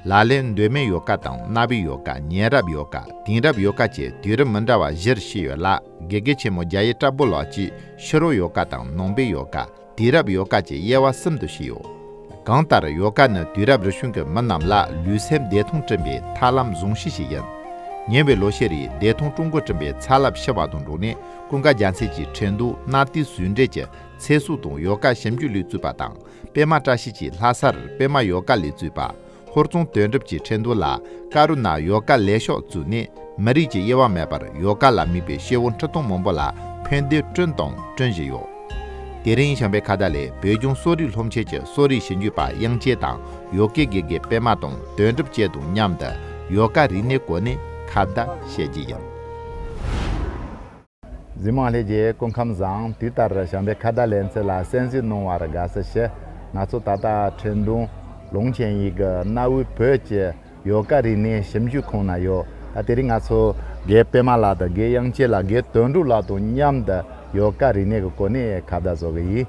ལ་ལས་འདོད་མའི་ཡོ་ག་དང་གནའ་བོའི་ཡོ་ག་ཉེ་རབས་ཡོ་ག་དེང་རབས་ཡོ་ག་བཅས་དུས་རབས་མི་འདྲ་བ་བཞིར་ཕྱེ་ཡོད་ལ་དགེ་རྒན་ཆེན་མོ་རྒྱ་ཡེ་བཀྲ་བྷོ་ལགས་ཀྱིས་ཕྱི་རོལ་ཡོ་ག་དང་ནང་པའི་ཡོ་ག། དུས་རབས་ཡོ་ག་ཅེས་དབྱེ་བ་གསུམ་དུ་ཕྱེའོ། གང་ལྟར་ཡོ་ག་ནི་དུས་རབས་རེ་བྱུང་གི་མི་རྣམས་ལ་ལུས་སེམས་བདེ་ཐང་སྐྲུན་པའི་ཐབས་ལམ་བཟུང་གཞི་ཞིག་ཡིན། ཉེ་བའི་ལོ་ཤས་རིང་བདེ་ཐང་ཀྲུང་གོ་བསྐྲུན་པའི་ཚ་རླབས་ཕྱི་བ་དང་འགྲོགས་ནས་ཀུན་དགའ་རྒྱ་མཚོས་ཀྱིས་ཁྲེང་ཏུའུ་གནའ་དུས་ཟུལ་འབྲེལ་གྱི་ཚེ་སྲོག་དང་ཡོ་ག་ཞིབ་འཇུག་ལས་བཙུགས་པ་དང་པད་མ་བཀྲ་ཤིས་ཀྱིས་ལྷ་སར་པད་མ་ཡོ་ག་ལས་བཙུགས་པ། ཧོར་རྫོང་དོན་གྲུབ་ཀྱི་ཁྲེན་ཏུའུ་ལ་ཀ་རུ་ནཱ་ཡོ་ག་ལས་ཤོག་བཙུགས་ནས་མི་རིགས་ཀྱི་དབྱེ་བ་མེད་པར་ཡོ་ག་ལ་དམིགས་པའི་སྐྱེ་བོ་ཁྲི་སྟོང་མང་པོ་ལ་ཕན་བདེ་བསྐྲུན་དང་བསྐྲུན་བཞིན་ཡོད། དེ་རིང་བྱམས་པའི་ཁ་བརྡ་ལས་བོད་ལྗོངས་གསོ་རིག་སློབ་ཆེན་གྱི་གསོ་རིག་ཞིབ་འཇུག་པ་དབྱངས་ཅན་དང་ཡོ་གའི་དགེ་རྒན་པད་མ་དང་དོན་གྲུབ་བཅས་དང་མཉམ་དུ་ཡོ་ག་རིག་གནས་སྐོར་ནས་ཁ་བརྡ་བྱེད་ཀྱི་ཡིན། འཛིན་རྨོངས་ལྷས་རྒྱལ་སྐུ་ཁམས་བཟང་དུས་ལྟར་བྱམས་པའི་ཁ་བརྡ་ལེན་ཚུལ་ལ་གསན་གཟིགས་གནང་བར་དགའ་བསུ་ཞུ། ང་ཚོ་ད་ལྟ་ཁྲེན་ཏུང་ལུང་ཆེན་ཡིག་གི་གནའ་བོའི་བོད་ཀྱི་ཡོ་ག་རིག་གནས་ཞིབ་འཇུག་ཁང་ན་ཡོད། ད་དེ་རིང་ང་ཚོ་དགེ་པད་མ་ལགས་དང་དགེ་དབྱངས་ཅན་ལགས་དགེ་དོན་འབྲུག་ལགས་དང་མཉམ་དུ་ཡོ་ག་རིག་གནས་ཀྱི་གོ་གནས་ཁ་བརྡ་བཟོ་གི་ཡིན།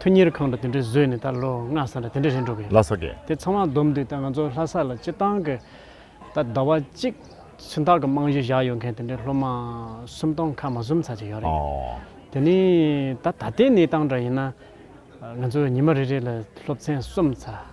ཐུ་གཉེར་ཁང་དུ་དེ་འདྲའི་བཟོས་ནས་ད་ལོ་ལྔ་ས་ལ་དེ་འདྲའི་རེད་འགྲོ་གི་ཡོད། ལྷ་ས་དགེ། དེ་ཚང་མ་བསྡོམས་དུས་ད་ང་ཚོ་ལྷ་ས་ལ་སྤྱི་བཏང་གི་ད་ཟླ་བ་གཅིག་ཚུན་ཐག་གི་རྨང་གཞི་བཞག་ཡོད་མཁན་དེ་འདྲའི་སློབ་མ་སུམ་སྟོང་ཁ་མ་ཟུམ་ཚར་གཅིག་ཡོད་རེད། དེ་ནི་ད་ད་ལྟའི་གནས་སྟངས་འདྲ་ཡིན་ན། ང་ཚོ་ཉི་མ་རེ་རེ་ལ་སློབ་ཚན་གསུམ་ཚར།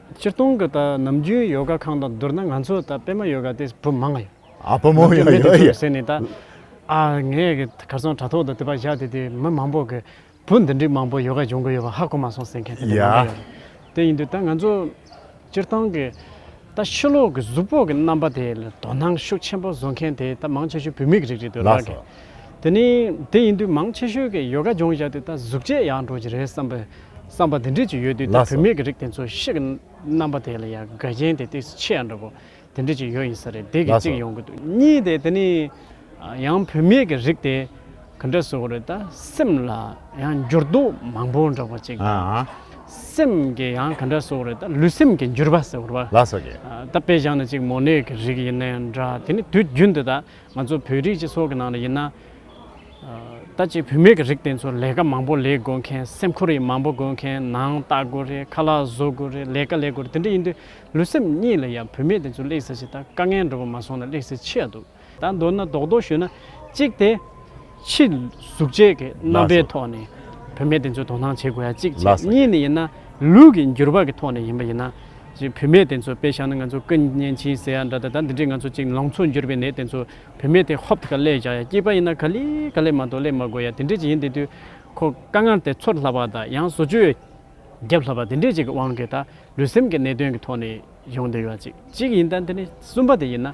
སྤྱིར་བཏང་གི་ད་ནམ་རྒྱུན་ཡོ་ག་ཁང་དང་བསྡུར་ན་ང་ཚོ་ད་པད་མ་ཡོ་ག་དེ་བུ་མང་ཡོད། ཨ་བུ་མོ་ཡང་ཡོད་ཡོད། ཟེར་ནས་ད་ཨ་ངས་གི་གར་སོང་དྲ་ཐོག་ཏུ་དེ་པ་བཞག་དེ་དེ་མི་མང་པོ་གི་བུ་འདི་འདྲའི་མང་པོ་ཡོ་ག་སྦྱོང་གི་ཡོད་པ་ཧ་གོ་མ་སོང་ཟེར་མཁན་དེ་དེ་མང་པོ་ཡོད། ཡ། དེ་ཡིན་དུས་ད་ང་ཚོ་སྤྱིར་བཏང་གི་ད་ཕྱི་ལོག་གི་གཟུགས་པོ་གི་རྣམ་པ་དེ་ལ་དོ་སྣང་ཤུགས་ཆེན་པོ་བཟོ་མཁན་དེ་ད་མང་ཆེ་ཤོས་བུད་མེད་ཀྱི་རིགས་རེད་འདོད་ལགས་ཀྱི། དེ་ནི་དེ་ཡིན་དུས་མང་ཆེ་ཤོས་ཀྱིས་ཡོ་ག་སྦྱོང་བཞག་དུས་ད་གཟུགས་བྱད་ཡག་འགྲོ་གི་རེད་བསམ་པའི་བསམ་པ་དེ་འདྲས་ཅིག་ཡོད་དུས་ད་བུད་མེད་ཀྱི་རིགས་དེ་ཚོ་ཤི་གི་རྣམ་པ་དེ་ལ་ཡང་དགའ་རྐྱེན་དེ་དུས་སུ་ཆེ་ཡང་འདྲ་པོ་དེ་འདྲས་ཅིག་ཡོད་ཡིན་ས་རེད་དེ་གི་གཅིག་ཡོང་གི་འདུག་གཉིས་དེ་དེ་ནི་ཡང་བུད་མེད་ཀྱི་རིགས་དེ་ག་འདྲས་བཟོ་གི་རེད་ད་སེམས་ལ་ཡང་འགྱུར་ལྡོག་མང་པོ་འགྲོ་པ་ཅིག་དང་སེམས་ཀྱི་ཡང་ག་འདྲས་བཟོ་གི་རེད་ད་ལུས་སེམས་ཀྱི་འགྱུར་བ་ཟེར་བ་ད་དཔེ་བཞག་ན་ཅིག་མོ་ནད་ཀྱི་རིགས་ཡིན་ནའི་འདྲ་དེ་ནི་དུས་རྒྱུན་དུ་ད་ང་ཚོ་བོད་རིགས་སྤྱི་ཚོགས་ཀྱི་ནང་ནས་ཡིན་ན། ད་ཅིག་བུད་མེད་ཀྱི་རིགས་དེ་ཚོར་ལས་ཀ་མང་པོ་ལས་དགོས་མཁན་སེམས་ཁུར་ཡིག་མང་པོ་དགོས་མཁན་ནང་ལྟ་དགོས་རེད་ཁ་ལག་བཟོ་དགོས་རེད་ལས་ཀ་ལས་དགོས་རེད་དེ་འདྲ་ཡིན་དུས་ལུས་སེམས་གཉིས་ལ་ཡང་བུད་མེད་དེ་ཚོ་སླེགས་ཟེར་ཞིག་ད་དཀའ་ངལ་འགྲོ་བ་མ་སོང་ན་སླེགས་ཟེར་ཆེ་ཡ་འདུག་ད་མདོར་ན་རྡོག་རྡོག་ཞུས་ན། གཅིག་དེ། ཕྱི་གཟུགས་བྱད་ཀྱི་རྣམ་པའི་ཐོག་ནས་བུད་མེད་དེ་ཚོའི་དོ་སྣང་བྱེད་དགོས་ཡ་གཅིག་བྱས་གཉིས་ནས་ཡིན་ན་ལུས་ཀྱི་འགྱུར་བག་གི་ཐོག་ནས་ཡིན་པ་ཡིན་ན། བུད་མེད་དེ་ཚོ་དཔེ་བཞག་ན་ང་ཚོ་སྐུ་བརྙན་འཆིང་ཟེར་ཡ་འདྲ་ད་ལྟ་འདི་འདྲའི་ང་ཚོ་གཅིག་ལང་ཚོ་འགྱུར་བའི་ནད་དེ་ཚོ་བུད་མེད་དེ་ཧོབ་ག་ལེ་བཞག་ཡ་སྐྱིད་པ་ཡིན་ན་ག་ལེ་ག་ལེ་མ་གཏོགས་ལེ་མ་དགོས་ཡ་དེ་འདྲས་ཅིག་ཡིན་དེ་དུས་ཁོ་དཀའ་ངལ་དེ་ཚོར་སླ་བ་དང་ཡང་བཟོ་བཅོས་རྒྱབ་སླ་བ་དེ་འདྲས་ཅིག་གི་དབང་གིས་ད་ལུས་སེམས་ཀྱི་གནད་དོན་གྱི་ཐོག་ནས་ཡོང་འདོད་ཡ་གཅིག་གཅིག་ཡིན་ད་འདི་ནས་གསུམ་པ་དེ་ཡིན་ན།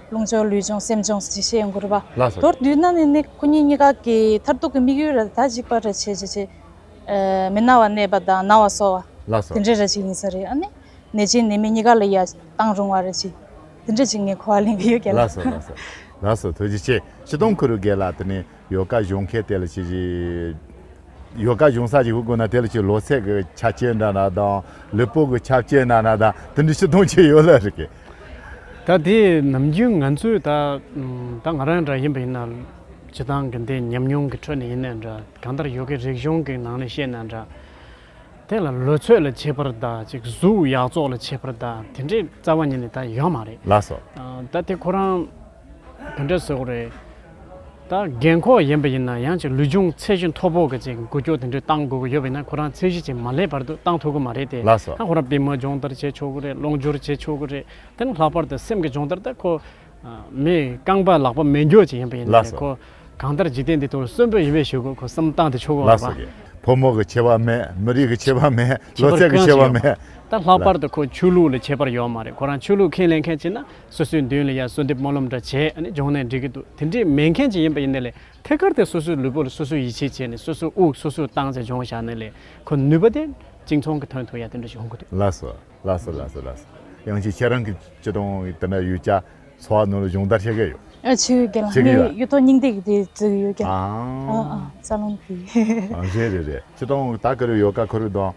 རླུང་སྦྱོང་ལུས་སྦྱོང་སེམས་སྦྱོང་ཞེས་བཤད་ཡོང་གི་རེད་པ། མདོར་བསྡུས་ན་ནི་ནི་སྐུ་ཉིད་གཉིས་ཀ་གི་མཐར་ཐུག་གི་དམིགས་ཡུལ་རེ་ད་གཅིག་པ་རེ་བྱས་རྗེས་ཀྱི། མི་ན་བ་གནས་པ་དང་ན་བ་སོ་བ། དེ་འདྲའི་རེ་གཅིག་ཡིན་ས་རེད་ཨ་ནི། ནད་ཀྱིས་ནད་མི་གཉིས་ཀ་ལ་ཡ་བཏང་རུང་བ་རེ་གཅིག། དེ་འདྲའི་གཅིག་ངས་གོ་བ་ལེན་གི་ཡོད་སྐད་ལ། ལགས་སོ་ལགས་སོ། ལགས་སོ་ཐུགས་རྗེ་ཆེ་ཕྱི་གཏོང་ཁུ་རུ་རྒས་ལགས་དེ་ནས་ཡོ་ག་གཞུང་མཁན་དེ་ལ་ཅིག། ཡོ་ག་གཞུང་ས་ཅིག་བུ་དགོས་ན་དེ་ལ་ཅིག་ལོ་ཚད་ཀྱི་ཆ་བཅད་འདྲ་ན་དང་ལུས་སྤོ་གི་ཆ་བཅད་འདྲ་ན་དང་དེ་འདྲའི་ཕྱི་གཏོང་བྱས་ཡོད་ལ་རེད་ཀི། ད་དེ་ནམ་རྒྱུན་ང་ཚོས་ད་ད་ང་རང་འདྲ་ཡིན་པ་ཡིན་ན་བྱེད་སྟངས་གི་འདི་ཉམས་མྱོང་གི་ཁྲོད་ནས་ཡིན་ནའི་འདྲ་གང་ལྟར་ཡོ་གའི་རིག་གཞུང་གི་ནང་ནས་བཤད་ནའི་འདྲ། དེ་ལ་ལོ་ཚོད་ལ་བྱེད་པར་ད་ཅིག་གཟུགས་ཡག་བཙོག་ལ་བྱེད་པར་ད་དེ་འདྲའི་རྩ་བ་ཉིད་ནས་ད་ཡོད་མ་རེད། ལགས་སོ། ད་དེ་ཁོ་རང། དེ་འདྲ་བཟོས་གོ་རེད། ད་རྒན་འཁོགས་ཡིན་པ་ཡིན་ན་ཡང་ཅིག་ལུས་སྦྱོང་ཚད་གཞི་མཐོ་པོ་གི་ཅིག་འགུལ་སྐྱོད་དེ་འདྲ་བཏང་དགོས་ཀྱི་ཡོད་པ་ཡིན་ན་ཁོ་རང་ཚད་གཞི་ཅིག་མ་སླེབས་བར་དུ་བཏང་ཐུབ་ཀྱི་མ་རེད་དེ། ལགས་སོ། ད་ཁོ་རང་པད་མ་སྦྱོང་བརྡར་བྱས་ཆོག་གི་རེད་རླུང་སྦྱོར་བྱས་ཆོག་གི་རེད། དེ་ནི་ལྷག་པར་དུ་སེམས་ཀྱི་སྦྱོང་བརྡར་ད་ཁོ། མི་རྐང་པ་ལག་པ་མེ་སྒྱོགས་ཅིག་ཡིན་པ་ཡིན་ལགས་ན་སོ། ཁོ་གང་ལྟར་འཇིག་རྟེན་འདི་ཐོག་གསོན་པོ་ཡོད་པའི་ཞོར་དུ་ཁོ་བསམ་བཏང་དེ་ཆོག་གི་ལགས་རེད་པ། སོ། ཕོ་མོ་གི་ཁྱད་པར་མེད་མི་རིགས་ཀྱི་ཁྱད་པར་མེད་ཁྱད་ལོ་པར་ཚད་ཀྱི་གང་ཞིག་ཁྱད་པར་ཡོད་མ་རེད། མེད། ད་ལྷག་པར་ལགས། དུ་ཁོ་ཆོས་ལུགས་ལ་ཁྱད་པར་ཡོད་མ་རེད་ཁོ་རང་ཆོས་ལུགས་ཁས་ལེན་མཁན་ཅིག་ན་སོ་སོའི་མདུན་ལ་ཡང་གསོལ་འདེབས་སྨོན་ལམ་འདྲ་བྱས་ནས་སྦྱོང་ནས་འགྲིག་གི་འདུག་དེ་འདྲའི་མེད་མཁན་ཅིག་ཡིན་པ་ཡིན་ན་ལས་ཐད་ཀར་དེ་སོ་སོའི་ལུས་པོ་ལ་སོ་སོས་ཡིད་ཆེས་བྱས་ནས་སོ་སོའི་དབུགས་སོ་སོས་བཏང་ཚེ་སྦྱོང་བཞག་ན་ལས་ཁོ་ནུས་པ་དེ་གཅིག་མཚུངས་ཀྱི་དོན་དུ་ཡང་དེ་འདྲ་ཞིག་ཧོན་གི་འདུག། ལགས་སོ། ལགས་སོ་ལགས་སོ་ལགས་སོ། ཡང་ཅིག་ཁྱེད་རང་གི་སྤྱི་དང་དེ་འདྲ་ཡོད་ཀྱ། འཚོ་བ་ནོར་ལ་སྦྱོང་བརྡར་བྱེད་ཀྱ་ཡོད། ཨ་ཆེ་གི་ལགས་ངའི་གཡུ་ཐོག་སྙིང་ཏིག་གི་དེ་བརྩི་གི་ཡོད་ཀྱ། ཨ་ཨ་རྩ་རླུང་གི། རེད་རེད་རེད་ཅི་དང་ད་ག་རེ་ཡོད་ཀ་ཁོ་རེ་དང།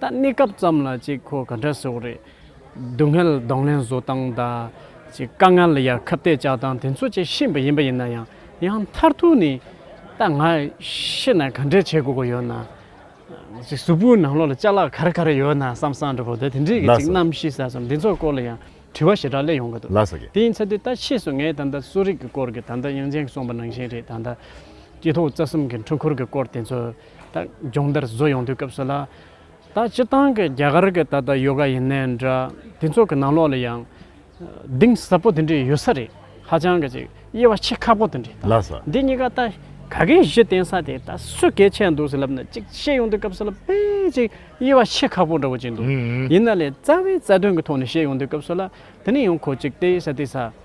ད་གནས་སྐབས་ཙམ་ལ་ཅིག་ཁོ་ག་འདྲ་སོགས་རེད། སྡུག་བསྔལ་གདོང་ལེན་བཟོ་སྟངས་དང། ཅིག་དཀའ་ངལ་ཡར་ཁ་གཏད་བཅག་སྟངས་དེ་ཚོ་ཅིག་ཤེས་པ་ཡིན་པ་ཡིན་ན་ཡང་ཡང་མཐར་ཐུག་ནི། ད་ང་ཤི་ན་ག་འདྲས་བྱེད་དགོས་གོ་ཡོད་ན། ཅིག་གཟུགས་པོའི་ནང་ལོགས་ལ་ལྕགས་ལག་ག་རེ་ག་རེ་ཡོད་ན་བསམ་བསམ་འདྲ་བོ་དེ་དེ་འདྲས་ཀྱི་ཅིག་རྣམ་ཤེས་ཟེར་སོང་འདི་ཚོ་སྐོར་ལ་ཡང་དྲི་བ་ཞེ་དྲག་གླེང་ཡོང་གི་འདུག་དེ་ཡིན་ཚ་དུས་ད་ཕྱིས་སུ་ངས་ད་ལྟ་གསོ་རིག་གི་སྐོར་གྱི་ད་ལྟ་དབྱངས་ཅན་གྱིས་གསུངས་པ་ནང་བཞིན་རེད་ད་ལྟ། སྐྱེ་ཐོག་རྩ་གསུམ་གྱི་འཁྲུལ་འཁོར་གྱི་སྐོར་དེ་ཚོ། ད་སྦྱོང་བརྡར་བཟོ་ཡོང་དུས་སྐབས་སུ་ལ། ད་སྤྱི་བཏང་གི་རྒྱ་གར་གི་ད་ལྟ་ཡོ་ག་ཡིན་ནའི་འདྲ། དེ་ཚོ་གི་ནང་ལོགས་ལ་ཡང། གདིང་ཟབ་པོ་དེ་འདྲས་ཡོད་ས་རེད། ཧ་ཅང་གི་ཅིག་དབྱེ་བ་ཕྱེ་ཁག་པོ་དེ་འདྲས་ལགས། འདི་གཉིས་ཀ་ད་ག་གེ་གཞི་བརྟེན་ས་དེ་ད་སུས་གལ་ཆེ་འདུག་ཟེར་ལབ་ན་ཅིག་བཤད་ཡོང་དུས་སྐབས་སུ་ལ་དཔེ་ཅིག་དབྱེ་བ་ཕྱེ་ཁག་པོ་འདྲ་བོ་ཅིག་འདུག་ཡིན་ན་ལས་རྩ་བའི་རྩ་དོན་གི་ཐོག་ནས་བཤད་ཡོང་དུས་སྐབས་སུ་ལ་དེ་ནི་ཡང་ཁོ་ཅིག་སྟེ་ས་དེ་ས།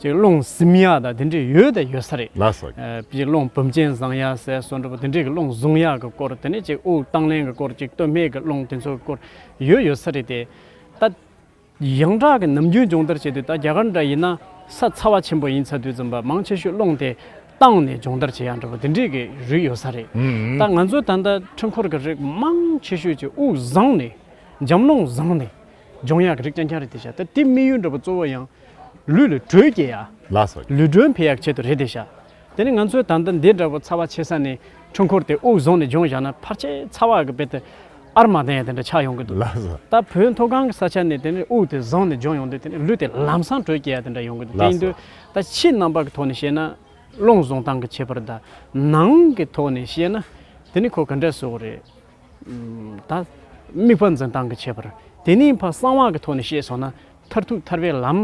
ཅིག་རླུང་གཟིམ་ཡག་དང་དེ་འདྲས་ཡོད་དང་ཡོད་ས་རེད། ལ་ཟ་གི། ཅིག་རླུང་བུམ་ཅན་བཟང་ཡག་ཟས་གསོ་འདྲ་པོ་དེ་འདྲས་ཀྱི་རླུང་བཟུང་ཡག་གི་སྐོར་དེ་ནས་ཅིག་དབུགས་བཏང་ལེན་གྱི་སྐོར་ཅིག་སྟོད་སྨད་ཀྱི་རླུང་དེ་ཚོ་གི་སྐོར་ཡོད་ཡོད་ས་རེད་དེ། ད། ཡང་དག་གི་ནམ་རྒྱུན་སྦྱོང་བརྡར་བྱེད་དུས་ད་རྒྱ་གར་འདྲ་ཡིན་ན་ས་ཚ་བ་ཆེན་པོ་ཡིན་ཚ་དུས་རྩོམ་པ་མང་ཆེ་ཤོས་རླུང་དེ་བཏང་ནས་སྦྱོང་བརྡར་བྱེད་ཡག་འདྲ་པོ་དེ་འདྲས་ཀྱི་རིགས་ཡོད་ས་རེད། ད་ང་ཚོའི་ད་ལྟ་འཕྲུལ་འཁོར་གྱི་རིགས་མང་ཆེ་ཤོས་ཅིག་དབུགས་བཟང་ནས་འཇམ་རླུང་བཟང་ནས་ལྗོངས་ཡག་གི་རིགས་ཀྱང་ཀྱང་རེད་དེ་ཤ་ཏེ་དམིགས་ཡུལ་འགྲོ་བ་གཙོ་བོ་ཡང། ལུས་ལ་དྲོད་སྐྱེད་ཡག། ལུས་དྲོད་འཕེལ་ཡག་ཆེད་དུ་རེད་དེ་ཤ། དེ་ནི་ང་ཚོའི་ད་ལྟ་འདི་འདྲ་བོ་ཚ་བ་ཆེ་ས་ནས་འཕྲུལ་འཁོར་དེ་དབུགས་བཟུང་ནས་ལྗོངས་བཞག་ན་ཕར་ཆད་ཚ་བ་གི་དཔེ་དེ། ཨར་མ་དེ་ཡང་དེ་འདྲ་ཆགས་ཡོང་གི་འདུག་ད་བོད་མཐོ་སྒང་གི་ས་ཆ་ནས་དེ་ནི་དབུགས་དེ་བཟང་ནས་ལྗོངས་ཡོང་དུས་དེ་ནི་ལུས་དེ་ལམ་སང་དྲོད་སྐྱེད་ཡག་དེ་འདྲ་ཡོང་གི་འདུག་དེ་ཡིན་དུས་ད་ཕྱི་རྣམ་པ་གི་ཐོག་ནས་བཤད་ན། རླུང་བཟུང་སྟངས་གི་ཁྱད་པར་དང། ནང་གི་ཐོག་ནས་བཤད་ན། དེ་ནི་ཁོ་ག་འདྲ་བཟོ་གི་རེད། དང། དམིགས་པ་འཛིན་སྟངས་ཀྱི་ཁྱད་པར། དེ་ནས་ཕ་གསང་བ་གི་ཐོག་ནས་ཤེས་སོང་ན། མཐར་ཐུག་ཐར་པའི་ལམ།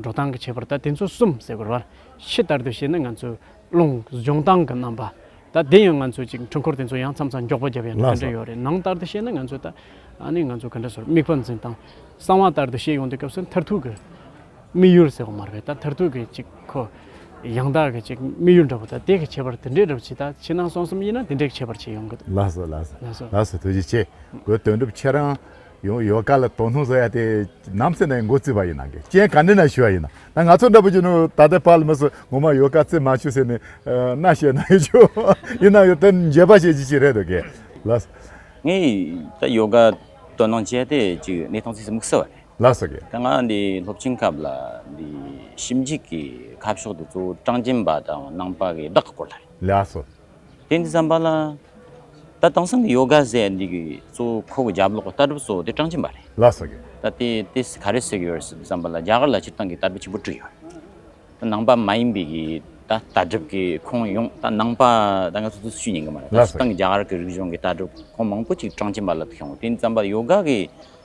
འགྲོ་སྟངས་ཀྱི་ཁྱད་པར་ད་དེ་ཚོ་གསུམ་ཟེར་དགོས། ཕྱི་ལྟར་དུ་བཤད་ན་ང་ཚོའི་རླུང་སྦྱོང་སྟངས་ཀྱི་རྣམ་པ། ད་དེ་ཡང་ང་ཚོས་ཅིག་འཕྲུལ་འཁོར་དེ་ཚོ་ཡང་མཚམས་མཚམས་མགྱོགས་པོ་བརྒྱབ་ཡང་ག་འདྲ་ཡོད་རེད། ནང་ལྟར་དུ་བཤད་ན་ང་ཚོས་ད། ཨ་ནི་ང་ཚོ་ག་འདྲ་ཟེར་དམིགས་པ་འཛིན་སྟངས། གསང་བ་ལྟར་དུ་བཤད་ཡོང་དུས་སྐབས་སུ་མཐར་ཐུག་གི། དམིགས་ཡུལ་ཟེར་བ་མ་རེད་ད་མཐར་ཐུག་གི་ཅིག་གོ། ཡང་དག་གི་ཅིག་དམིགས་ཡུལ་འདྲ་བོ་ད་དེ་གི་ཁྱད་པར་དེ་འདྲའི་འདྲ་བོ་ཇི་ལྟར་ཕྱི་ནང་གསང་གསུམ་དབྱེ་ན་དེ་འདྲའི་ཁྱད་པར་ཅིག་ཡོང་གི་འདུག། ལགས་སོ་ལགས་ལགས་སོ་ལགས་སོ་ཐུགས་རྗེ་ཆེ་གོ་དོན་གྲུབ་ཁྱེད་རང་ཡང་ཡོ་ག་ལ་དོ་སྣང་བཟོ་ཡ་དེ་ནམ་སེ་ནས་མགོ་བཙུད་པ་ཡིན་ནང་གི་རྐྱེན་ག་འདྲེ་ན་ཞུ་བ་ཡིན་ན་ང་ཚོ་འདྲ་བོ་ཅིག་ནང་ད་ལྟའི་བར་ལ་མི་སུ་ངོ་མ་ཡོ་ག་བཙུད་མ་ཞུ་ཟེར་ནས་རྣ་བཤད་གནང་ཡོད་ཆུ་ཡིན་ནང་གི་དེ་འཇེབས་པ་ཞེ་ཅིག་ཅིག་རེད་འདུག་གི་ལགས་སོ། ངས་ད་ཡོ་ག་དོ་སྣང་བྱས་ཏེ་ཅིག་གནས་སྟངས་ཚིག་གསུམ་གསལ་བ་རེད། ལ་ཟེར་གི། དེ་སྔ་འདི་སློབ་ཆེན་སྐབས་ལ་འདི་ཞིབ་འཇུག་གི་ཁ་ཕྱོགས་དེ་གཙོ་བོ་ཀྲང་ཅན་པ་དང་གནང་པ་གི་བདག་གི་སྐོར་ལ་རེད། ལ་སོ། དེ་འདི་བསམ་པ་ལ། ད་དེང་སང་གི་ཡོ་ག་ཟེར་འདི་གི་གཙོ་བོ་ཁོ་གི་རྒྱབ་ལོག་གི་ལྟ་གྲུབ་གཙོ་བོ་དེ་ཀྲང་ཅན་པ་རེད། ལ་ཟེར་གི། ད་དེ་དེ་ག་རེ་ཟེར་གི་ཡོད་རེད་ཟེར་འདི་བསམ་པ་ལ་རྒྱ་གར་ལ་སྤྱིར་བཏང་གི་ལྟ་གྲུབ་ཆེན་པོ་བཀྲུས་ཡོད་རེད། ནང་པ་མ་ཡིན་པའི་གི་ད་ལྟ་གྲུབ་གི་ཁོང་ཡོངས་ད་ནང་པ་ད་ང་ཚོ་ཚོ་ཤུས་ཉན་གི་མ་རེད། ད་སྤྱིར་བཏང་གི་རྒྱ་གར་གི་རིག་གཞུང་གི་ལྟ་གྲུབ་ཁོང་མང་པོ་ཅིག་ཀྲང་ཅན་པ་ལ་དུ་ཤོང་དེ་འདི་བསམ་པ་ཡོ་ག་གི་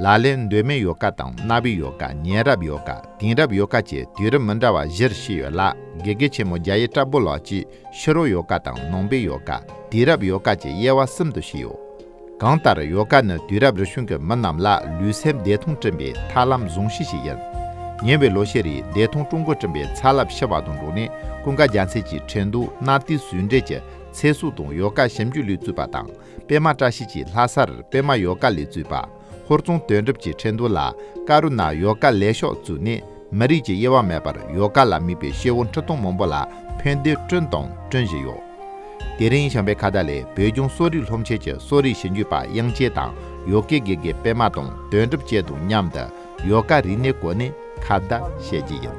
ལ་ལས་འདོད་མའི་ཡོ་ག་དང་རྣ་བའི་ཡོ་ག་ཉན་རབས་ཡོ་ག་དེང་རབས་ཡོ་ག་བཅས་དུས་རབས་མི་འདྲ་བ་བཞིར་ཤི་ཡོད་ལ་དགེ་རྒན་ཆེན་མོ་རྒྱ་ཡེ་བཀྲ་བྷོ་ལགས་ཀྱིས་ཕྱི་རོལ་ཡོ་ག་དང་ནང་པའི་ཡོ་ག་དུས་རབས་ཡོ་ག་བཅས་དབྱེ་བ་གསུམ་དུ་ཕྱེ་ཡོད། གང་ལྟར་ཡོ་ག་ནི་དུས་རབས་རེ་བྱུང་གི་མི་རྣམས་ལ་ལུས་སེམས་བདེ་ཐང་སྐྲུན་པའི་ཐབས་ལམ་བཟུང་གཞི་ཞིག་ཡིན། ཉེ་བའི་ལོ་ཤས་རིང་བདེ་ཐང་ཀྲུང་གོ་བསྐྲུན་པའི་ཚ་རླབས་ཕྱི་བར་དུ་འགྲོ་ནས་ཀུན་དགའ་རྒྱལ་མཚན་གྱིས་ཁྲེན་ཏུའུ་གནའ་དུས་ཟུང་འབྲེལ་གྱི་ཚེ་སྲོག་དང་ཡོ་ག་ཞིབ་འཇུག་ལུས་གཙོས་པ་དང་པད་མ་བཀྲ་ཤིས་ཀྱིས་ལྷ་སར་པད་མ་ཡོ་ག་ལས་བཙུགས་པ། ཧོར་རྫོང་དོན་གྲུབ་ཀྱིས་ཁྲེན་ཏུའུ་ལ་ཀ་རུ་ན་ཡོ་ག་ལས་ཤོག་བཙུགས་ནས་མི་རིགས་ཀྱི་དབྱེ་བ་མེད་པར་ཡོ་ག་ལ་དམིགས་པའི་ཤེལ་བོ་འཁྲི་སྟོང་མང་པོ་ལ་ཕན་བདེ་བསྐྲུན་དང་བསྐྲུན་བཞིན་ཡོད། དེ་རིང་བྱམས་པའི་ཁ་བརྡ་ལས་བོད་ལྗོངས་གསོ་རིག་སློབ་ཆེན་གྱི་གསོ་རིག་ཞིབ་འཇུག་པ་དབྱངས་ཅན་དང་ཡོ་གའི་དགེ་རྒན་པད་མ་དང་དོན་གྲུབ་བཅས་དང་མཉམ་དུ་ཡོ་ག་རིག་གནས་སྐོར་ནས་ཁ་བརྡ་བྱེད་ཀྱི་ཡིན།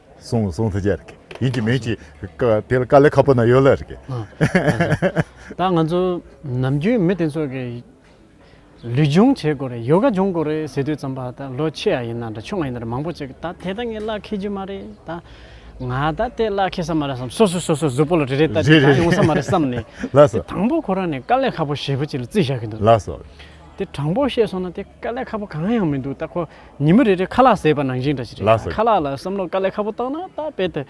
སོང་སོང་ཐུགས་རྗེ་ཡིན་གྱི་མིན་གྱི་དེ་ལ་དཀའ་ལས་ཁ་པོ་ན་ཡོད་ལ་རེད། ད་ང་ཚོ་ནམ་རྒྱུན་མི་དེ་ཚོ་གི་ལུས་སྦྱོང་བྱེད་དགོས་རེད་ཡོ་ག་སྦྱོང་དགོས་རེད་ཟེར་དུས་ཙམ་པ་ད་ལོ་ཆེ་ཡ་ཡིན་ན་འདྲ་ཆུང་ཡ་ཡིན་ན་འདྲ་མང་པོ་ཅིག་ད་དེ་ད་ངས་གླགས་འཁེལ་རྒྱུ་མ་རེད་ད། ང་ད་དེ་གླགས་འཁེལ་ས་མ་རེད་བསམ་སོ་སོས་སོ་སོའི་གཟུགས་པོ་ལ་རེ་རེ་བལྟ་དེ་ད་ཡོང་ས་མ་རེད་བསམ་ནས་དེ་དང་པོ་ཁོ་རང་ནས་དཀའ་ལས་ཁ་པོ་ཞེ་པོ་ཅིག་ལ་རྩིས་བཞག་གི་འདུག་དེ་དྲང་པོ་བཤད་སོང་ན་དེ་དཀའ་ལས་ཁ་པོ་གང་ཡང་མི་འདུག་ད་ཁོ་ཉིན་མོ་རེ་རེར་ཁ་ལག་ཟས་པ་ནང་བཞིན་འདྲ་ཞིག་རེད། ཁ་ལག་ལ་བསམ་བློ་དཀའ་ལས་ཁ་པོ་བཏང་ན་ད་དཔེ་དེ།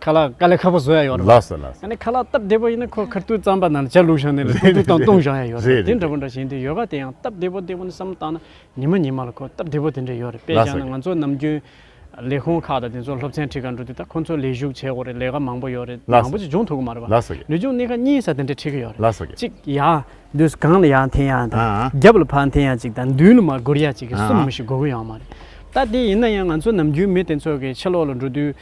ཁ་ལག་དཀའ་ལས་ཁ་པོ་བཟོ་ཡ་ཡོད་རེད། ཡ་ནི་ཁ་ལག་སྟབས་བདེ་པོ་ཡིན་ན་ཁོ་ཁར་ཏུའུ་རྩམ་པ་ནང་བྱ་ལུག་བཞག་ནས་ལ་ཏུའུ་ཏུའུ་དང་བཏུང་བཞག་ཡ་ཡོད་རེད། དེ་འདྲ་པོ་འདྲ་བྱས་འདི་ཡོད་པ་དེ་ཡང་སྟབས་བདེ་པོ་བདེ་པོ་ནི་བསམ་བློ་བཏང་ན་ཉིན་མོ་ཉིན་མ་ལ་ཁོ་སྟབས་བདེ་པོ་དེ་འདྲ་ཡོད་རེད་དཔེ་བཞག་ན་ང་ཚོ་ནམ་རྒྱུན། ལས་ཁུངས་ཁག་དང་དེ་ཚོར་སློབ་ཚན་ཁྲིད་ག་འགྲོ་དུས་ད་ཁོ་ཚོ་ལས་ཞུགས་བྱེད་དགོས་རེད་ལས་ཀ་མང་པོ་ཡོད་རེད་མང་པོ་ཅིག་སྦྱོང་ཐུབ་གི་མ་རེད་པ། ལུས་སྦྱོང་གནས་ཁ་གཉིས་ས་དེ་འདྲ་ཁྲིད་གི་ཡོད་རེད། གཅིག་ཡ། འདུས་གང་ལ་ཡང་འཐེན་ཡ་དང། རྒྱབ་ལ་ཕར་འཐེན་ཡ་གཅིག་དང་མདུན་ལ་མར་སྒུར་ཡ་གཅིག་གི་གསུམ་མི་ཞིག་དགོས་གི་ཡོད་མ་རེད། ད་དེ་ཡིན་ན་ཡང་ང་ཚོ་ནམ་རྒྱུན་མི་དེ་ཚོ་གི་ཕྱི་ལོག་ལ་འགྲོ་དུས།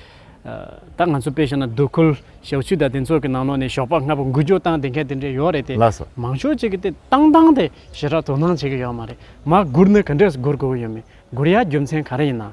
ད་ང་ཚོ་དཔེ་བཞག་ན་སྡོད་ཁུལ་ཞག་ཆུ་དང་དེ་ཚོ་གི་ནང་ལོག་ནས་ཞོགས་པ་ལྔ་པོ་འགུལ་སྐྱོད་བཏང་དེ་འཁེལ་དེ་འདྲས་ཡོད་རེད་དེ། མང་ཤོས་གཅིག་གི་དེ་བཏང་བཏང་དེ་ཞེ་དྲག་དོ་སྣང་བྱེད་གི་ཡོད་མ་རེད། མར་སྒུར་ནི་ག་འདྲས་སུ་སྒུར་དགོས་གི་ཡོད་མེད་སྒུར་ཡ་རྒྱུ་མཚན་ག་རེ་ཡིན་ནམ།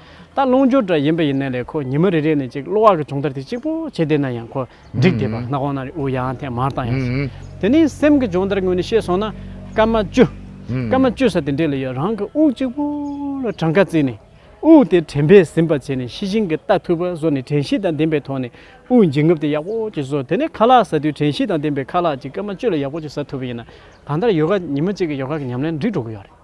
ད་རླུང་སྦྱོར་འདྲ་ཡིན་པ་ཡིན་ན་ལས་ཁོ་ཉི་མ་རེ་རེ་ནས་ཅིག་གློ་བ་གི་སྦྱོང་བརྡར་དེ་གཅིག་པོ་བྱས་བསྡད་ན་ཡང་ཁོ་འགྲིག་བསྡད་པ་རྣ་ཁོང་ན་རེ་ཨུ་ཡང་ཐེངས་མར་བཏང་ཡང་སྲིད། དེ་ནས་སེམས་ཀྱི་སྦྱོང་བརྡར་ངོས་ནས་བཤད་སོང་ན་སྐར་མ་བཅུ། སྐར་མ་བཅུ་ས་དེ་འདྲས་ལ་ཡོད་རང་གི་དབུགས་གཅིག་པོ་ལ་གྲངས་ཀ་བརྩིས་ནས་དབུགས་དེ་དྲན་པས་ཟིན་པར་བྱས་ནས་ཤི་ཞིང་གི་ལྟ་ཐུབ་པ་བཟོ་ནས་དྲན་ཤེས་དང་ལྡན་པའི་ཐོག་ནས་དབུགས་འབྱིན་རྔུབ་དེ་ཡག་པོ་ཅིག་བཟོ་དེ་ནས་ཁ་ལག་ཟ་དུས་དྲན་ཤེས་དང་ལྡན་པའི་ཁ་ལག་ཅིག་སྐར་མ་བཅུ་ལ་ཡག་པོ་ཅིག་ཟ་ཐུབ་པ་ཡིན་ན་གང་ལྟར་ཡོ་ག་ཉི་མ་གཅིག་གི་ཡོ་ག་གི་ཉམས་ལེན་འགྲིག་འགྲོ་གི་ཡོད་རེད།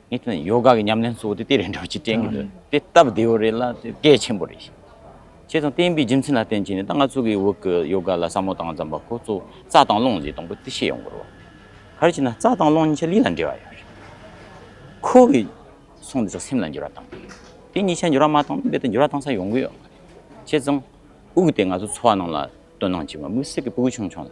ངས་ཐོས་ན་ཡོ་ག་གི་ཉམས་ལེན་གཙོ་བོ་དེ་དེ་རེད་འགྲོ་ཅེས་དྲན་གྱི་འདུག་དེ་སྟབས་བདེ་བོ་རེད་ལ་དེ་གལ་ཆེན་པོ་རེད། བྱས་ཙང་བསྟན་པའི་རྒྱུ་མཚན་ལ་བརྟེན་བྱས་ནས་ད་ང་ཚོ་གི་འོག་གི་ཡོ་ག་ལ་བསམ་བློ་བཏང་ཙམ་པ་ཁོ་ཚོ་རྩྭ་དང་རླུང་ཅེས་དང་པོ་དེ་ཤེས་ཡོང་དགོས་རེད། གལ་ཆེ་ན་རྩྭ་དང་རླུང་གཉིས་ཆ་ལུས་ལ་འབྲེལ་བ་ཡོད་རེད། ཁོ་བོས་གསུངས་འདི་ཚོ་སེམས་ལ་འགྱུར་བ་བཏང་གི་ཡོད། དེ་གཉིས་ཆ་འགྱུར་བ་མ་བཏང་ན་རྦད་དེ་འགྱུར་བ་བཏང་ས་ཡོང་གི་ཡོད་མ་རེད། བྱས་ཙང་དབུགས་དེ་ང་ཚོ་འཚོ་བ་རྣམས་ལ་དོན་སྣང་ཆེ་བ་དམིགས་བསལ་གྱི་སྤུ་གུ་ཆུང་ཆུང་ལ།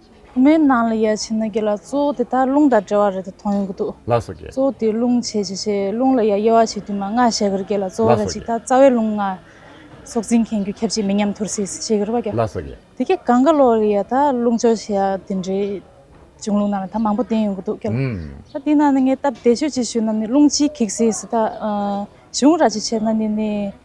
ཁོ་མོའི་ནང་ལ་ཡལ་ཕྱིན་ན་རྒྱུ་ལ་གཙོ་བོ་དེ་དག་རླུང་དང་བྲལ་བ་རེད་དུ་མཐོང་ཡོང་གི་འདུག་ལགས་སོ་གཅེས། གཙོ་བོ་དེ་རླུང་བྱེད་བྱེད་བྱེད་རླུང་ལ་ཡ་དབྱེ་བ་བྱེད་དུས་མ་སྔ་ཞེས་གིར་སྐད་ལ་གཙོ་བོ་ལ་ཅིག་ཐ་རྩ་བའི་རླུང་ལྔ། སྲོག་འཛིན་མཁན་རྒྱུ་ཁྱབ་བྱེད་མི་ཉམས་ཐུར་སེལ་ཞེས་གིར་བ་རྒྱ། ལགས་སོ་གཅེས། དེ་གས་གང་ག་ལོག་ལ་ཡ་ཐ་རླུང་སྦྱོར་བྱེད་ཡ་དེ་འདྲའི་བྱུང་ལུགས་ནང་ལ་ཐ་མང་པོ་བསྟན་ཡོང་གི་འདུག་སྐད་ལ། ད་དེ་ནང་ནས་ངས་སྟབས་བདེ་ཤོས་ཅིག་ཞུས་ན་ནི་རླུང་སྤྱིའི་གེགས་སེལ་སི་ཐ། གཞུང་ར་ཅིག་བྱས་ན་ནི་ནི།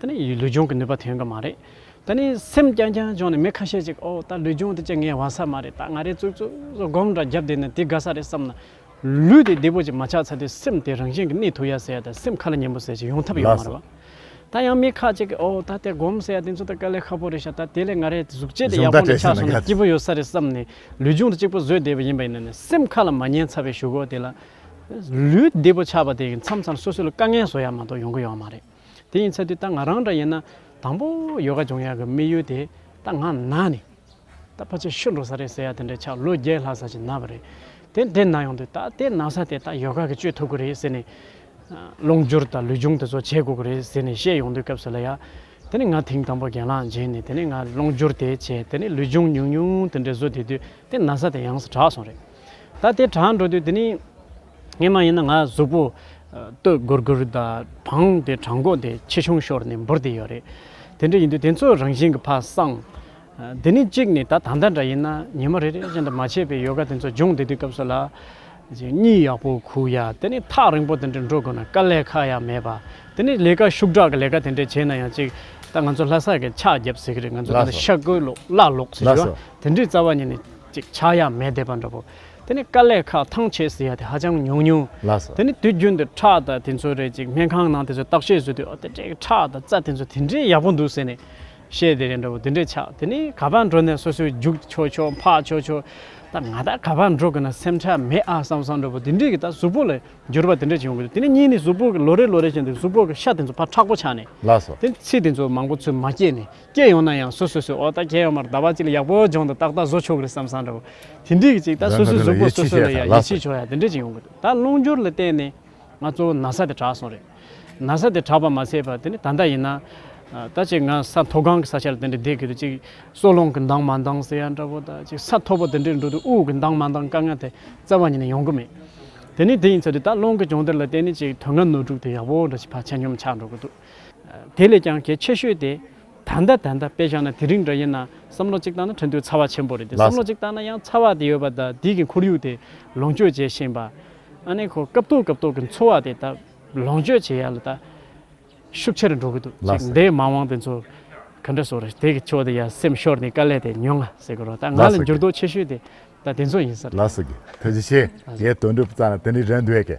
ད་ནི་ལུས་སྦྱོང་གི་ནུས་པ་ཐོན་གི་མ་རེད། ད་ནི་སེམས་རྐྱང་རྐྱང་སྦྱོང་ནས་མི་ཁ་ཤས་ཅིག་ཨོ་ད་ལུས་སྦྱོང་དེ་ཅི་ངའི་བ་ས་མ་རེད་ད་ང་རེ་ཙུག་ཙུག་སྒོམ་འདྲ་རྒྱབ་བསྡད་ནས་དེ་དགའ་ས་རེད་བསམ་ན། ལུས་དེ་བདེ་པོ་ཅིག་མ་ཆགས་ཚར་དུས་སེམས་དེ་རང་བཞིན་གྱི་གནས་ཐུག་ཡ་ཟེར་ཡ་དང་སེམས་ཁ་ལ་ཉན་པོ་ཟེར་ཅིག་ཡོང་ཐབས་ཡོད་མ་རེད་བ། ད་ཡང་མི་ཁ་ཅིག་གིས་ཨོ་ད་དེ་སྒོམ་ཟེར་ཡ་དེ་ཚོ་ད་དཀའ་ལས་ཁ་པོ་རེད་ཤག་ད་དེ་ལས་ང་རེ་གཟུགས་བྱད་དེ་ཡག་པོ་འདྲ་ཆགས་སོང་ན་སྐྱིད་པོ་ཡོད་ས་རེད་བསམ་ནས་ལུས་སྦྱོང་དེ་གཅིག་པོ་བཟོས་བསྡད་པ་ཡིན་པ་ཡིན་ན་ནི་སེམས་ཁ་ལ་མ་ཉན་ཚར་བའི་ཞུ་སྒོ་དེ་ལ། ལུས་བདེ་པོ་ཆགས་པ་དེ་ཡིན་མཚམས་མཚམས་སོ་སོ་ལ་དཀའ་ངལ་བཟོ་ཡ་མ་གཏོགས་ཡོང་གི་ཡོད་མ་རེད། དེ་ཡིན་ཚད་དུས་ད་ང་རང་འདྲ་ཡིན་ན་དང་པོ་ཡོ་ག་སྦྱོང་ཡག་གི་དམིགས་ཡུལ་དེ་ད་ང་ན་ནི་ད་ཕ་ཚོས་ཤི་འགྲོ་ས་རེད་ཟེར་ཡག་དེ་འདྲའི་ཆགས་ལོ་བརྒྱད་ལྷག་ས་ཞིག་ན་བ་རེད་དེ་དེ་ན་ཡོང་དུས་ད་དེ་ན་ས་དེ་ད་ཡོ་ག་གི་བཅོས་ཐུབ་གི་རེད་ཟེར་ནས། རླུང་སྦྱོར་དང་ལུས་སྦྱོང་དེ་ཚོ་བྱེད་དགོས་ཀྱི་རེད་ཟེར་ནས་བཤད་ཡོང་དུས་སྐབས་སུ་ལ་ཡ། དེ་ནས་ང་དེང་དང་པོ་རྒན་ལགས་མཇལ་ནས་དེ་ནས་ང་རླུང་སྦྱོར་དེ་བྱས་དེ་ནས་ལུས་སྦྱོང་ཉུང་ཉུང་དེ་འདྲའི་བཟོ་དེ་དུས་དེ་ན་ས་དེ་ཡང་ས་དྲགས་སོང་རེད། ད་དེ་དྲགས་འགྲོ་དུས་དེ་ནི། ངས་མ་ཡིན་ན་ང་གཟུགས་པོ་སྟོད་སྒུར་སྒུར་དང་བང་དེ་བྲང་གོག་དེ་ཆེ་ཆུང་ཤོར་ནས་འབུར་དེ་ཡོད་རེད། དེ་འདྲ་ཡིན་དུས་དེ་ཚོ་རང་བཞིན་གྱི་ཕ་བཟང། དེ་ནི་གཅིག་ནས་ད་ད་ལྟ་འདྲ་ཡིན་ན་ཉི་མ་རེ་རེ་བཞིན་དུ་མ་བྱས་པའི་ཡོ་ག་དེ་ཚོ་སྦྱོང་བསྡད་དུས་སྐབས་སུ་ལ། གཉིད་ཡག་པོ་ཁུག་ཡ་དེ་ནི་ཐག་རིང་པོ་དེ་འདྲ་འགྲོ་དགོས་ན་དཀའ་ལས་ཁག་ཡ་མེད་པ། དེ་ནི་ལས་ཀ་ཤུགས་དྲག་གི་ལས་ཀ་དེ་འདྲ་བྱས་ན་ཡང་གཅིག་ད་ང་ཚོ་ལྷ་སར་གྱི་ཕྱག་རྒྱབ་ཟེར་གི་རེད་ང་ཚོ་ལ་ཤ་བརྐོས་ལོག་སླ་ལོག་ཟེར་གི་རེད་དེ་འདྲའི་རྩ་བ་ཉིད་ནས་གཅིག་ཆགས་ཡ་མེད་བསྡད་པ་འདྲ་པོ། དེ་ནི་དཀའ་ལས་ཁག་ཐང་ཆད་ཟེར་ཡ་དེ་ཧ་ཅང་ཉུང་ཉུང། དེ་ནི་དུས་རྒྱུན་དུ་ཁྲག་དང་དེ་ཚོ་རེད་ཅིག་སྨན་ཁང་ནང་དེ་ཚོ་བརྟག་དཔྱད་བཟོས་དུས་ཨོ་དེ་འདྲའི་གི་ཁྲག་དང་རྩ་དེ་ཚོ་དེ་འདྲའི་ཡག་པོ་འདུག་ཟེར་ནས་བཤད་དེ་རེད་འདྲ་བོ་དེ་འདྲའི་ཆགས་དེ་ནི་ག་པར་འགྲོ་ནས་སོ་སོའི་རྒྱུགས་ཆོག་ཆོག་འཕགས་ཆོག་ཆོག་ད་ང་ད་ག་པར་འགྲོ་གི་ན་སེམས་ཁྲལ་མེད་ཨ་བསམ་བསམ་འདྲ་བོ་དེ་འདྲའི་གི་ད་གཟུགས་པོ་ལ་འགྱུར་བ་དེ་འདྲ་བྱུང་གི་འདུག་དེ་ནི་གཉིས་ནི་གཟུགས་པོ་གི་ལོ་རེ་ལོ་རེ་བཞིན་དུ་གཟུགས་པོ་གི་ཤ་དེ་ཚོ་ཕར་ཁྲག་པོ་ཆགས་ནས་དེ་ཚེ་དེ་ཚོ་མང་པོ་ཚོད་མ་སྐྱེས་ནས། སྐྱེས་ཡོང་ན་ཡང་སོ་སོ་སོའི་འོག་ལྟ་སྐྱེས་ཡོང་མར་ཟླ་བ་གཅིག་ལ་ཡག་པོ་སྦྱོང་དང་ཏག་ཏག་བཟོ་ཆོག་གི་རེད་བསམ་བསམ་འདྲ་བོ། དེ་འགྲིག་གི་ཅིག་ད་སོ་སོའི་གཟུགས་པོ་སོ་སོ་ལ་ཡང་ཡིད་ཆེས་ཆོག་ཡ་དེ་འདྲ་ཅིག་ཡོང་གི་རེད་ད་རླུང་སྦྱོར་ལ་བརྟེན་ནས་ང་གཙོ་བོ་ན་ས་དེ་དྲག་སོང་རེད། ན་ས་དེ་དྲག་པ་མ་ཚད་པར་དེ་ནི་ད་ལྟ་ཡིན་ན། ད་ཅིག་ང་ས་མཐོ་སྒང་གི་ས་ཆ་ལ་དེ་འདྲ་བསྡད་གི་རེད་ཅིག་སྲོག་རླུང་གི་མདངས་མ་འདང་ཟེར་ཡ་འདྲ་བོ་ད་ཅིག་ས་མཐོ་པོ་དེ་འདྲའི་འགྲོ་དུས་དབུགས་ཀྱི་མདངས་མ་འདང་དཀའ་ངལ་དེ་རྩ་བ་ཉིད་ནས་ཡོང་གི་མེད། དེ་ནི་དེ་ཡིན་ཚོད་དུ་ད་རླུང་གི་སྦྱོང་བརྡར་ལ་བརྟེན་ནས་ཅིག་དོན་ལྔ་ནོར་དྲུག་དེ་ཡག་པོ་འདྲ་ཅིག་བར་ཆད་གཉོམ་ཆག་འགྲོ་གི་འདུག། དེ་ལས་ཀྱང་གལ་ཆེ་ཤོས་དེ། ད་ལྟ་ད་ལྟ་དཔེ་བཞག་ན་དེ་རིང་འདྲ་ཡིན་ན་བསམ་བློ་གཅིག་བཏང་ན་ཁྲོན་ཏུའི་ཚ་བ་ཆེན་པོ་རེད་དེ་བསམ་བློ་གཅིག་བཏང་ན་ཡང་ཚ་བ་དེ་ཡོད་པ་དང་དེའི་གི་ཁོར་ཡུག་དེ་ལོངས་སྤྱོད་བྱེད་བཞིན་པ། ཨ་ནེ་ཁོ་སྐབས་ཐོག་སྐབས་ཐོག་གི་འཚོ་བ་དེ་ད་ལོངས་སྤྱོད་བྱེད་ཡ་ལ་ད་ཤུགས་ཆེར་འགྲོ་གི་འདུག་ཅིག་འདའི་མ་འོངས་དེ་ཚོ་ག་འདྲ་བཟོ་རེད་དེ་གི་ཕྱོགས་དེ་ཡ་སེམས་ཤོར་ནས་དཀའ་ལས་དེ་མྱོང་ང་ཟེར་གི་རོ་ད་ང་ལ་འགྱུར་ལྡོག་ཆེ་ཤོས་དེ་ད་དེ་ཚོ་ཡིན་ས་རེད། ལགས་སོ་གི་ཐུགས་རྗེ་ཆེ་ངའི་དོན་འགྲུབ་བཙང་ན་དེ་འདྲའི་རེད་འདོད་གི།